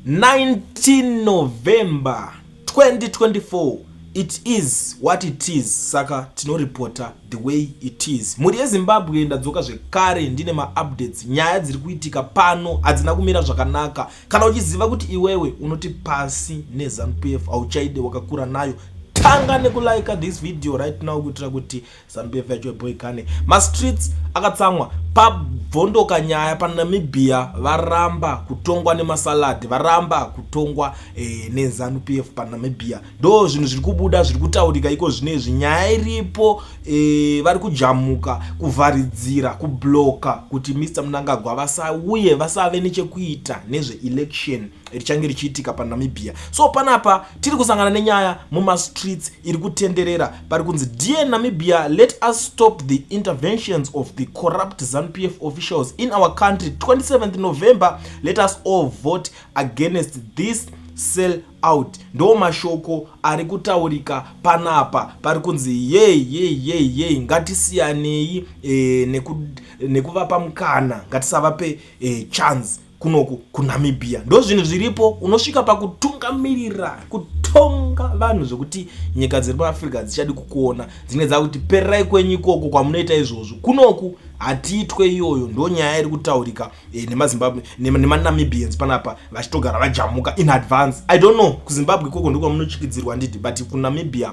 19 November 2024 it is what it is saka tinoripota the way it is mhuri yezimbabwe ndadzoka zvekare ndine maupdates nyaya dziri kuitika pano hadzina kumira zvakanaka kana uchiziva kuti iwewe unoti pasi nezanupf hauchaide wakakura nayo tanga nekulaika this video right now kuitira kuti zambf yacho yeboy kane mastreets akatsamwa pabvondoka nyaya panamibia varamba kutongwa nemasalad varamba kutongwa e, nezanu p f panamibia ndo zvinhu zviri kubuda zviri kutaurika iko zvine izvi nyaya iripo e, vari kujamuka kuvharidzira kubloka kuti mr munangagwa vasauye vasave nechekuita nezveelection richange richiitika panamibia so panapa tiri kusangana nenyaya mumastreets iri kutenderera pari kunzi dear namibia let us stop the interventions of the corrupt zanupf officials in our country 27 november let us all vote against this sell out ndo mashoko ari kutaurika panapa pari kunzi yei yei yei yei ngatisiyanei e, nekuvapa neku mukana ngatisavape e, chance kunoku kunamibia ndozvinhu zviripo unosvika pakutungamirira kutonga vanhu zvekuti nyika dziri muafrica dzichadi kukuona dzinenge dzakuti pererai kwenyu ikoko kwamunoita izvozvo kunoku hatiitwe iyoyo ndo nyaya iri kutaurika eh, nemazimbabwe nemanamibians panapa vachitogara vajamuka in advance i don't know kuzimbabwe ikoko ndokwamunochikidzirwa ndidi but kunamibia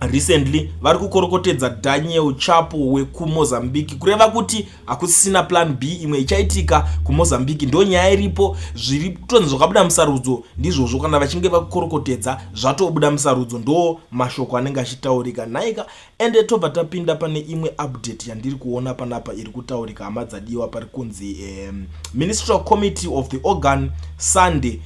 Recently vari kukorokotedza Daniel Chapo wekuMozambique kureva kuti hakusisina plan B imwe ichaitika kuMozambique ndo nyaya iripo zviri kutonzi zvakabuda musarudzo ndizvozvo kana vachinge vakukorokotedza zvatobuda musarudzo ndo mashoko anenge achitaurika nhaika ende tobva tapinda pane imwe update yandiri kuona panapa iri kutaurika hama dzadiwa pari kunzi um, ministerial committee of the organ Sunday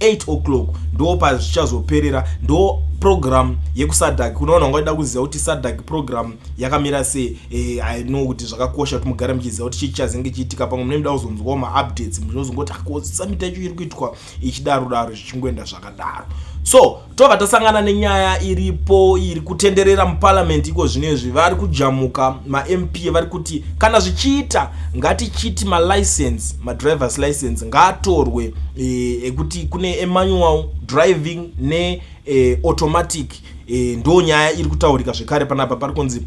8 o'clock ndo pazvichazoperera ndo program yekusadak kunoona unga uchida kuziva kuti sadak program yakamira sei eh, i know kuti zvakakosha kuti mugare muchiziva kuti chii chichazenge chiitika pamwe mune muda kuzonzwawo maupdates munozongoti akosamita icho iri kuitwa ichidaro daro zvichingoenda zvakadaro so tobva tasangana nenyaya iripo iri kutenderera muparliament iko zvino izvi vari kujamuka mamp vari kuti kana zvichiita ngatichiti malicense madrivers license ngaatorwe e, ekuti kune emanual driving neautomatic e, e, ndo nyaya iri kutaurika zvekare panapa pari kunzi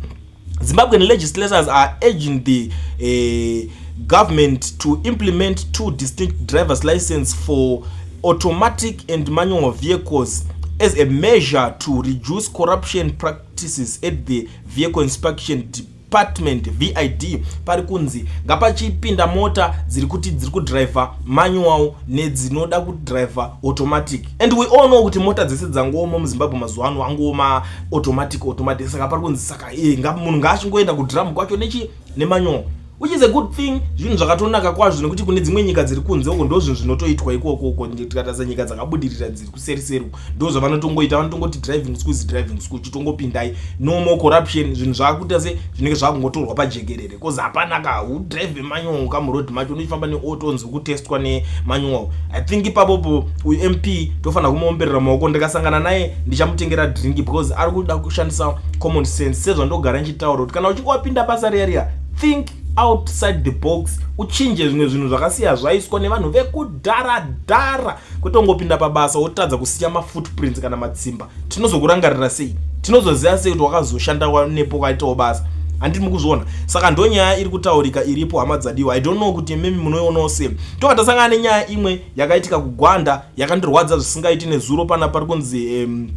Zimbabwean legislators are urging the uh, government to implement two distinct driver's license for automatic and manual vehicles as a measure to reduce corruption practices at the vehicle inspection department vid pari kunzi ngapachipinda mota dziri kuti dziri kudriver manual nedzinoda kudriver automatic and we all know kuti mota dzese dzangooma muzimbabwe mazuva ano angooma automatic automatic saka pari kunzi saka e munhu ngaachingoenda kudrum kwacho nechi nemanyongo which is a good thing zvinhu zvakatonaka kwazvo nekuti kune dzimwe nyika dziri kunze uko ndo zvinhu zvinotoitwa ikoko uko tikatasa nyika dzakabudirira dziri kuseriseri uko ndo zvavanotongoita vanotongoti driving school is driving school chitongopindai no more corruption zvinhu zvaakuita se zvinenge zvaakungotorwa pajekerere because hapana ka udrive manyongo ka muroad macho unochifamba neauto unzi kutestwa nemanyongo i think ipapopo uyu mp tofanira kumuomberera maoko ndikasangana naye ndichamutengera drink because ari kuda kushandisa common sense sezvandogara ndichitaura kuti kana uchinge wapinda basa riya riya think outside the box uchinje zvimwe zvinhu zvakasiya zvaiswa nevanhu vekudhara dhara kwete ungopinda pabasa wotadza kusiya mafootprints kana matsimba tinozokurangarira sei tinozoziva sei kuti wakazoshanda nepo kwaitawo basa handi mukuzviona saka ndo nyaya iri kutaurika iripo hama dzadiwa i don't know kuti mimi munoionawo sei toka tasangana nenyaya imwe yakaitika kugwanda yakandirwadza zvisingaiti nezuro pana pari kunzi um,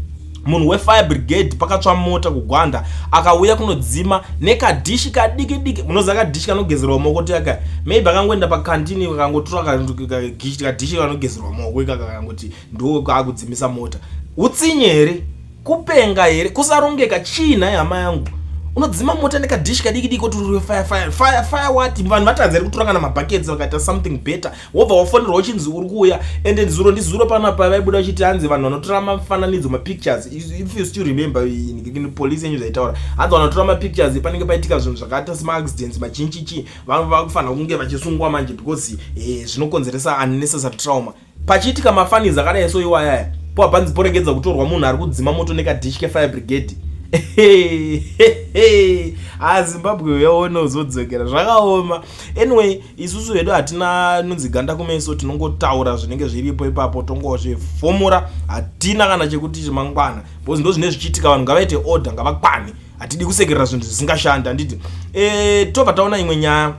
munhu wefire brigade pakatsva mota kugwanda akauya kunodzima nekadhishi kadiki diki munoziva kadhishi kanogezerwa maoko tiaka maybe akangoenda pakantini kakangotura kadhishi kanogezerwa maoko ikaka kakangoti ndiwo kaakudzimisa mota utsinye here kupenga here kusarongeka chii nhai hama yangu unodzima mota nekadhishi kadiki diki kuti uri fire fire fire fire wati vanhu vatanzi ri kutura kana mabhaketsi vakaita something better wobva wafonerwa uchinzi uri kuuya and zuro ndizuro pana pavaibuda uchiti hanzi vanhu vanotora mafananidzo mapictures if you still remember in police yenyu zvaitaura hanzi vanotora mapictures panenge paitika zvinhu zvakaita semaaccidents machinchichi vanhu vakufanira kunge vachisungwa manje because eh, zvinokonzeresa unnecessary trauma pachiitika mafanizi akadai so iwayaya poa panzi poregedza kutorwa munhu ari kudzima moto nekadish kefire brigade azimbabwe ah, uyaona uzodzokera zvakaoma anyway isusu vedu hatina nunzi ganda kumeso tinongotaura zvinenge zviripo ipapo tongozvifomora hatina kana chekuti chemangwana bcause ndo zvine zvichiitika vanhu ngavaite order ngavakwane hatidi kusekerera zvinhu zvisingashandi handiti e, eh, tobva taona imwe nyaya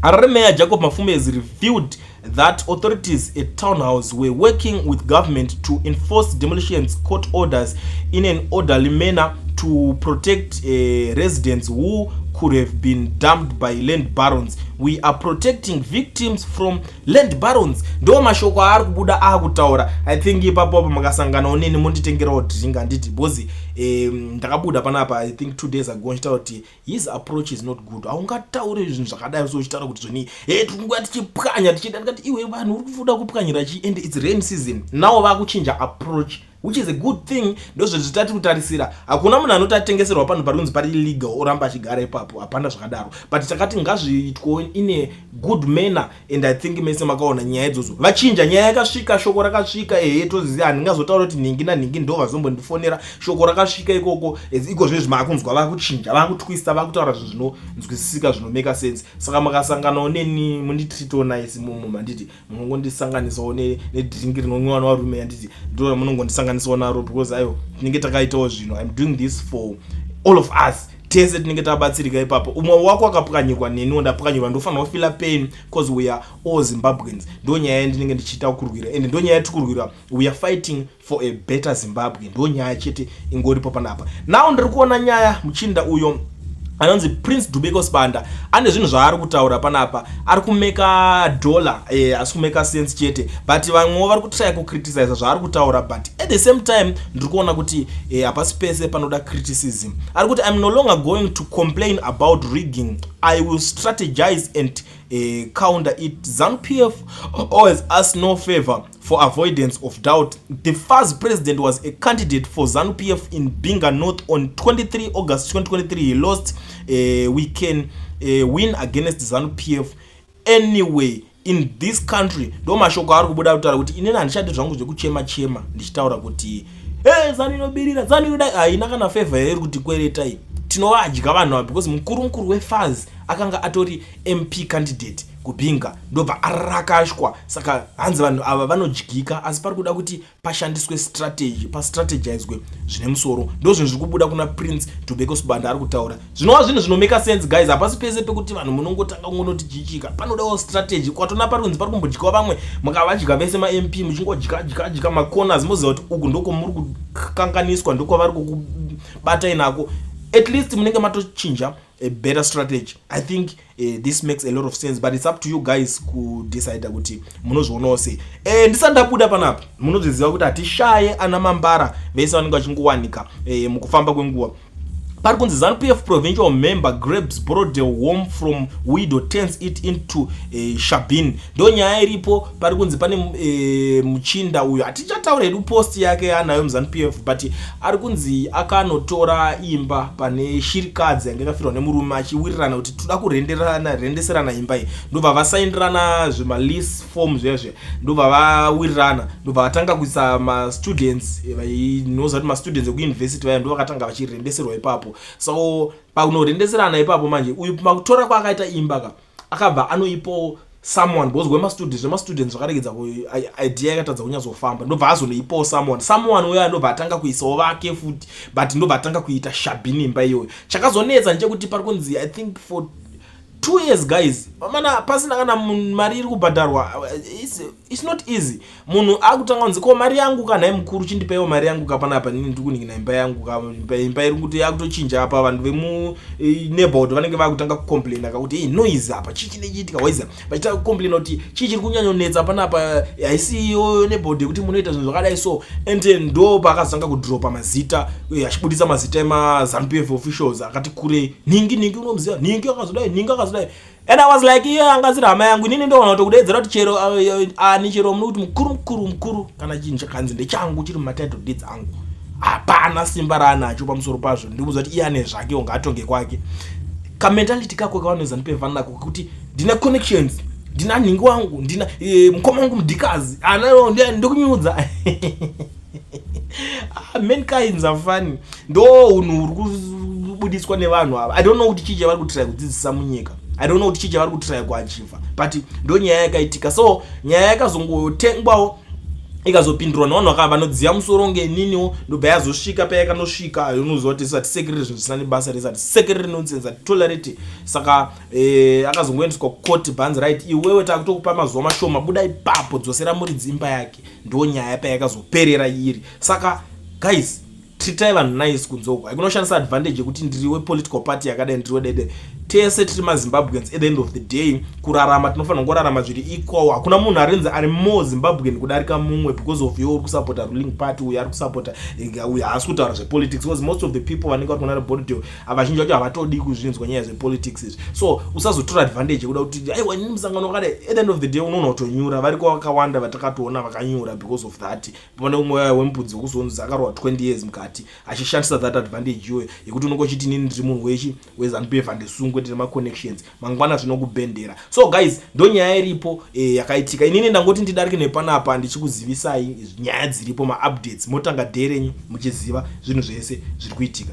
harare meya jacob mafume has revealed that authorities at townhouse were working with government to enforce demolitions court orders in an orderly manner to protect uh, residents who could have been dumped by land barons we are protecting victims from land barons ndo mashoko aari kubuda akutaura i think ipapo apo makasanganawo neni monditengerawo drink handiti because um, ndakabuda panapa i think two days ago ndichitaura kuti his approach is not good haungataure zvinhu zvakadai so uchitaura kuti zvoni he eh, tikunguva tichipwanya tichida ndikati iwe vanhu uri kufuda kupwanyira chii and its rain season now vakuchinja approach which is a good thing ndozvezvi tati kutarisira hakuna munhu anoti atengeserwa panhu pari kunzi pari illegal oramba achigara ipapo hapana zvakadaro but takati ngazviitwo in a good manner and i think mese makaona nyaya idzodzo vachinja nyaya yakasvika shoko rakasvika ehe toziva handingazotaura kuti nhingi nanhingi ndo vazombondifonera shoko rakasvika ikoko iko zvezvi maakunzwa vakuchinja vakutwista vakutaura zvinhu zvinonzwisisika zvinomeka sense saka makasanganawo neni munditritonice mumu manditi munongondisanganisawo nedrink rinonwiwa nevarume yanditi ndo ramunongondisanganisawo naro because ayo tinenge takaitawo zvinhu im doing this for all of us tese tinenge tabatsirika ipapo umwe wako akapwanyirwa neniwo ndapwanyirwa ndofanira kufila pain bcause weare all zimbabweans ndonyaya yandinenge ndichiita kurwira and ndonyaya yatikurwira weare fighting for a better zimbabwe ndo nyaya chete ingoripo panapa now ndiri kuona nyaya muchinda uyo anonzi prince dubeko sibanda ane zvinhu zvaari kutaura panapa ari kumeka dollar e, asi kumeka sense chete but vamwewo vari kutraya kucriticiza zvaari kutaura but at the same time ndiri kuona kuti eh, hapasi e, pese panoda criticism ari kuti iam no longer going to complain about rigging i will strategize and uh, counter it zanupf always ask no favor For avoidance of doubt, the FAZ president was a candidate for ZANU PF in Binga North on 23 August 2023. He lost. Uh, we can uh, win against ZANU PF anyway in this country. Ndo mashoko ari kubuda kutaura kuti inini handichadi zvangu zvekuchema chema ndichitaura kuti hey, ZANU inobirira ZANU inodai haina kana favor here iri kuti kweretai tinovadya vanhu ava because mukuru mukuru weFAZ akanga atori MP candidate kubhinga ndobva arakashwa saka hanzi vanhu ava vanodyika asi pari kuda kuti pashandiswe strategy pastrategizwe zvine musoro ndozvinhu zviri kubuda kuna prince tobeko sibanda ari kutaura zvinova zvinhu zvinomeka sense guys hapasi pese pekuti vanhu munongotanga kungonotijichika panodawo strategy kwatona pari kunzi pari kumbodyiwa vamwe mukavadya vese mamp muchingodyadyadyadya macorners moziva kuti uku ndoko muri kukanganiswa ndokwavari kukubatai nako at least munenge matochinja a better strategy i think uh, this makes a lot of sense but it's up to you guys kudecide kuti munozvionawo sei e, ndisandabuda panapa munozviziva kuti hatishaye ana mambara vese vanenge vachingowanika e, mukufamba kwenguva pari kunzi zanupf provincial member grabs brodel home from widow turns it into uh, shabin ndo nyaya iripo pari kunzi pane e, muchinda uyo hatichataura hedu post yake yaanayo muzanu p f but ari kunzi akanotora imba pane shirikadzi yange kafirwa nemurume achiwirirana kuti toda kurendeserana imba iyi ndobva vasaindirana zvemalease form zviya zviya ndobva vawirirana ndobva vatanga kuisa mastudents eh, vainoziva kuti mastudents ekuuniversity vaya ndo vakatanga vachirendeserwa ipapo so pakunorendeserana ipapo manje uyu makutora kwaakaita imba ka akabva anoipawo someone because wemastudent zvemastudent zvakaregedza idea yakatadza kunyatsofamba ndobva azonoipawo someone someone uyo anobva atanga kuisawo vake futi but ndobva atanga kuita shabi nemba iyoyo chakazonetsa ndechekuti pari kunzi i think for two years guys mana pasina kana mari iri kubhadharwa It's not easy. Munhu akutanga kunzi ko mari yangu ka nhai mukuru chindipaiwo mari yangu ka panapa nini ndiri kuningina imba yangu ka imba iri kuti yakutochinja apa vanhu vemu e, neighborhood vanenge vakutanga kucomplaina ka kuti hey, noise apa chii chinenge chiitika waiza vachitanga kucomplaina kuti chii chiri kunyanyonetsa panapa haisi iyoyo neighborhood yekuti munoita zvinhu zvakadai so and ndo paakazotanga kudropa mazita e, achibudisa mazita emazanu pf officials akati kurei nhingi nhingi unomuziva nhingi akazodai nhingi akazodai and i was like iye anga asiri hama yangu inini ndoona kuti kudeedzera kuti chero uh, uh, uh, ani chero mune kuti mukuru mukuru mukuru kana chinhu chakanzi ndechangu chiri mumatitle deeds angu hapana simba raanacho pamusoro pazvo ndikuuza kuti iye ane zvake unga atonge kwake kamentality kako kavanoza ndipevana nako kekuti ndine connections ndina nhingi wangu ndina eh, mukoma wangu mudhikazi anao ndikunyudza Ah, mankins afani ndo unhu uri kubudiswa nevanhu ava i don't know kuti chii chavari kutiraya kudzidzisa munyika i don't know kuti chii chavari kutiraya kuachiva but ndo nyaya yakaitika so nyaya yakazongotengwawo ikazopindurwa nevanhu vakava vanodziva musoro ngeniniwo ndobva yazosvika payakanosvika unoziva kuti zisati sekiriri zvinhu zvisina nebasa rezati sekiriri nonsense ati tolerity saka eh, akazongoendeswa kukoti bhanzi right iwewe takutokupa mazuva mashoma buda ipapo dzosera muridzi imba yake ndo nyaya payakazoperera iri saka guys tritai vanhu nice kunze uko haikunoshandisa advantage yekuti ndiri wepolitical party yakadai ndiri wedede tese tiri mazimbabweans at the end of the day kurarama tinofanira kungorarama zviri equal hakuna munhu arinzi ari more zimbabwean kudarika mumwe because of yo uri kusapota ruling party uyo ari kusapota eh, uyo haasi kutaura zvepolitics because most of the people vanenge vari kunara body vazhinji vacho havatodi kuzvinzwa nyaya zvepolitics izvi so usazotora advantage yekuda kuti aiwa ini musangano wakadai at the end of the day unoona kutonyura variko vakawanda vatakatoona vakanyura because of that pane umwe waye wemupudzi wekuzonzi akarohwa 20 years mukati achishandisa that advantage iyoyo yekuti unonge uchiti inini ndiri munhu wechi wezanupief handisungwe tine maconnections mangwana zvinokubhendera so guys ndo nyaya iripo e, yakaitika inini ndangoti ndidarike nepanapa ndichikuzivisai nyaya dziripo maupdates motanga dherenyu muchiziva zvinhu zvese zviri kuitika